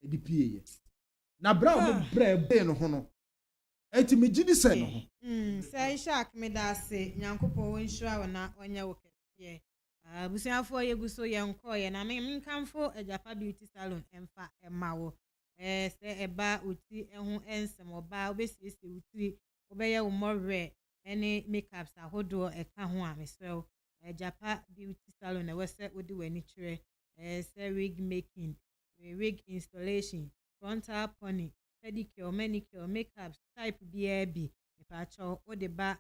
ɛde pieeɛ na berɛ a wɔn ah. brɛ bee no ho no ɛti megye di sɛ no ho. Mm, sɛ ishak meda ase nyankopɔn wɔnhyira wo na ɔnyɛ wo kɛseɛ ah, abusuafoɔ yɛgu so yɛnkɔɔyɛ na menkamfo agyafa beauty salon ɛmfa ɛma wo eh, sɛ ɛba wo ti ho ɛnsɛm ɔbaa wobɛsiesie wo tiri wobɛyɛ wo mmɔwerɛ ne makeups ahodoɔ ɛka ho a mesrɛ wo Japa beauty salon na ɛwɔ sɛ wode w'ani kyerɛ sɛ wig making, wig installation, frontal pony, pedicure, manicure, makeups type biara bi mepaakyɛw wode ba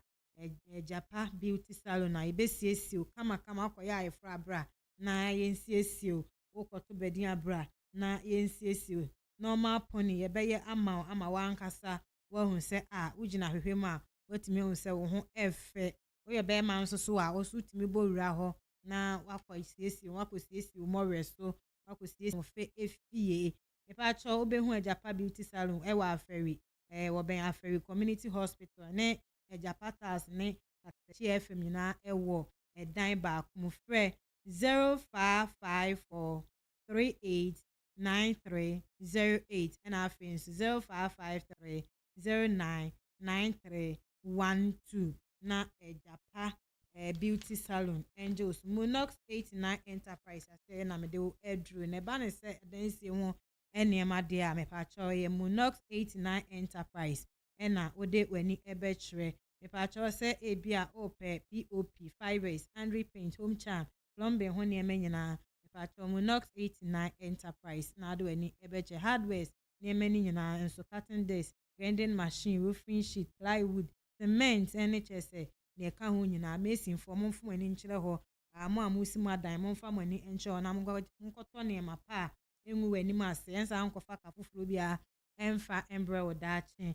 Japa beauty salon a yɛbɛsiesie wo kama kama wokɔyɛ ayeforo a bra na yɛnsiesie wo, wokɔto badin a bra na yɛnsiesie wo, normal pony yɛbɛyɛ ama wo ama w'ankasa woahu sɛ a wugyina hwehwɛ mu a, woatumi ahu sɛ wo ho yɛ fɛ. Woyɛ barima nso so a, wo nso wutumi bɔ wura hɔ na woakɔsiesie wo ho, akosiesie wo mmɔwerɛ so, woakosiesie wo fɛ fie. Mepakyɛw, wubehu Agyapa Beauty Salon wɔ Afari, ɛɛ, wɔbɛn Afari Community Hospital ne Agyapa Tiles ne Kasakyie FM nyinaa wɔ dan baako mu. Frɛ zero five five four three eight nine three zero eight ɛna afei nso zero five five three zero nine nine three one two na ɛgya pa ɛɛ beauty salon ɛngye osu monox eighty nine enterprise ase ɛna mede wo aduro na ɛba ne sɛ adansie ho nneɛma deɛ a mepaakyɛw yɛ monox eighty nine enterprise ɛna wode w'ani ɛbɛkyerɛ mepaakyɛw sɛ ebi a ɔpɛ pop fibers andre paint home charm plumbing ho nneɛma nyinaa. Mepakyɛw mo Knox eighty nine Enterprise na ade w'ani bɛkyerɛ hardwares nneɛma no nyinaa nso, cutting disc, grinding machine, roofing sheet, plywood, cement ne kyerɛ sɛ nea ɛka ho nyinaa. Masonfoɔ, momfa mo ani nkyerɛ hɔ, ah, mo a moresi mo adan, momfa mo ani nkyerɛ hɔ na monkɔ, monkɔtɔ nneɛma pa a engu w'anim ase, ɛnsa nkɔfa ka foforɔ biara mfa mbrɛ wo daakye.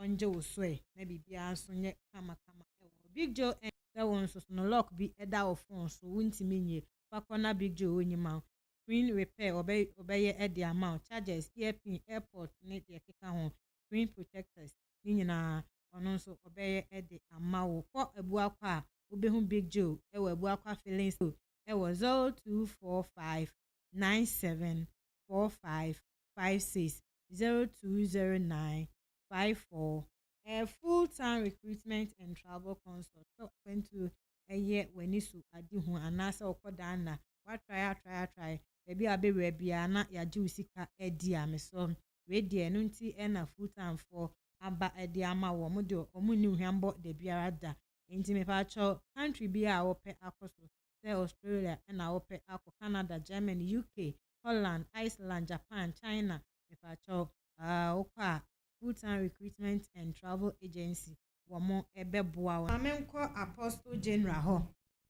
ɔngye wo so ɛ na biribiara nso nyɛ kama kama wɔ hɔ Big Joe ɛn sɛ wo nso so no lock bi da wo phone so wontumi nwie fa kɔ na Big Joe ɔnyi ma wo Screen repair ɔbɛ ɔbɛyɛ de ama wo chargers ear pin airport ne deɛ ɛkeka ho screen protectors ne nyinaa ɔno nso ɔbɛyɛ de ama wo Kɔ Abuakwa a wobɛhu Big Joe wɔ Abuakwa filling station wɔ 0245 97 45 56 zero two zero nine five four. A full time recruitment and travel consult sɛ ɔkwantuo yɛ w'ani so ade hu anaasɛ wokɔ dan na woatrae atrae atrae baabi a wobɛwura biara na yɛagye wo sika adi a mesrɛ wo wei deɛ ɛno nti na full time foɔ aba de ama wɔ ɔmo deɛ ɔmo nni ohwambɔ da biara da nti mepaakyɛw country biara a wopɛ akɔ so sɛ Australia na wopɛ akɔ Canada Germany UK Holland, Iceland, Japan, China, mepakyɛw ahh wokɔ a Bhutan Recruitment and Travel Agency wɔn bɛboa wo. Ma menkɔ Apostle General hɔ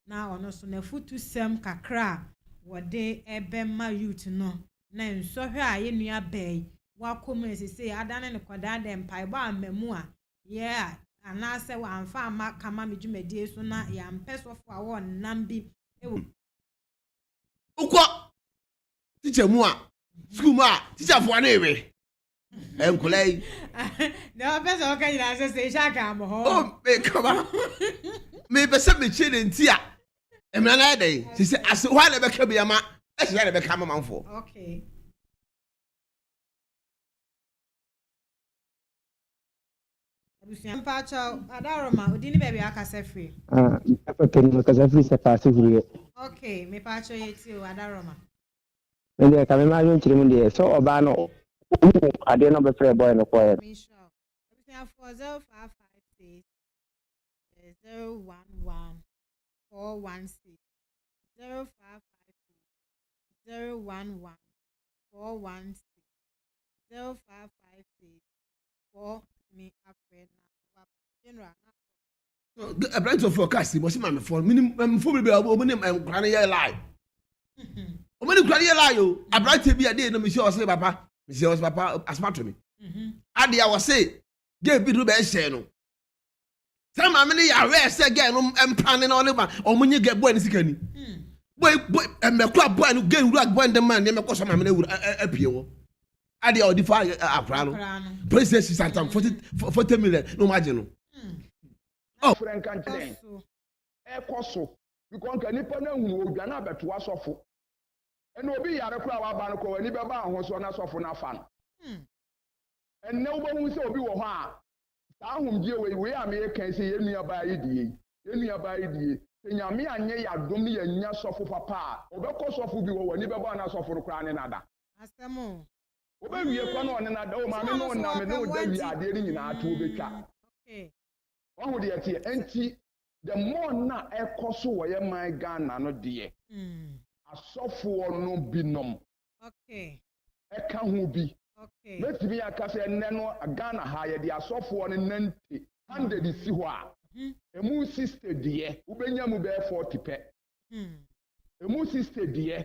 na ɔno nso n'afutusɛm kakra a wɔde bɛma youth no ne nsɔhwɛ a yɛn nua baa yi wakɔ mu na sesei adane no kɔdaa dɛ mpaebɔ amma mu a yɛa anaasɛ wamfa amma kama me dwumadie so na yɛampɛ sɔfo a wɔnnam bi wɔ wokɔ tikya mu a sukuu mu a tikyafoɔ ne we nkɔla yi. na ɔpɛ sɛ ɔka nyinaa sɛ sɛ ehyɛ aka amɔ hɔ. o mekama mepɛ sɛ mekyerɛ ne nti a mmara no ayɛ dɛn sɛ sɛ ase hɔ a na ɛbɛka bi ama ɛhyɛ a na ɛbɛka ama manfoɔ. Abusua. Mpakyɛw, Adaroma, odin ne baabi a wakasa firi? Ah, ɛpɛpɛ no mekasa firi sɛ paase huriɛ. Ok, mepakyɛw yɛtie o, Adaroma. Me deɛ ka me ma adwenkyerɛ mu deɛ sɛ ɔbaa no ɔhu adeɛ na ɔbɛfrɛ boy no kɔɛ no. Menhyira wo. Abusuafoɔ 0556 011 416 0556 011 416 0556 aberante foforɔ kaa si wɔsi maamefoɔ no menim maamefoɔ bebree a wɔn ne nkura no yɛ lie wɔn ne nkura no yɛ lie o aberante bi a de yɛ no mesi ɔsɛ papa mesi ɔsɛ papa asoma to me adeɛ a wɔse gay bi no bɛɛ hyɛn no Sɛ maame no yɛ aware sɛ gɛɛ no mpra ne na ɔne ba ɔmo nye gɛɛ bɔɛ ne sika ni. Hmm. Bɔɛ bɔɛ ɛmɛkura eh, bɔɛ no gɛɛ wura bɔɛ ne ma nneɛma kɔ so maame no awura eh, eh, apue wɔ. Adeɛ a ɔde fa akora no. Police sɛ sisa ntam forty million na ɔmo agye no. Hmm. Oh. Fura nka nkyɛn. Ɛkɔ so. Bikɔ nka nipa na ehunu odwa na abɛto asɔfo. Ɛna obi yare koraa waba no kɔ w'ani bɛba ahosuo na asɔfo no afa no. Hmm. Ɛnna wobɛhu sɛ obi wɔ hɔ a Saa ahomgyeɛ wei, wei a mereka yi, sɛ yɛn nuabaa yi deɛ yi, yɛn nuabaa yi deɛ, sɛ Nyame anyɛ yɛn adom ne yɛannya sɔfo papa a, ɔbɛkɔ sɔfo bi hɔ, w'ani bɛbɔ a na sɔfo no koraa ne no ada. Asɛm o. Ɔbɛwie kɔ na ɔne no ada, o maame no nna, me ne wo da wie a, adeɛ no nyinaa to ɔbɛtwa. Okay. Wahu deɛ ɛteɛ? Ɛnti, the more nna a ɛrekɔ so wɔ yɛn man Ghana no deɛ, asɔfoɔ no binom, ka ho bi. Mɛtumi aka sɛ nnɛ no Ghana ha yɛde asɔfoɔ no nante. Hundred si hɔ a, ɛmu sixty deɛ wobɛnya mu bɛyɛ forty pɛ. Ɛmu sixty deɛ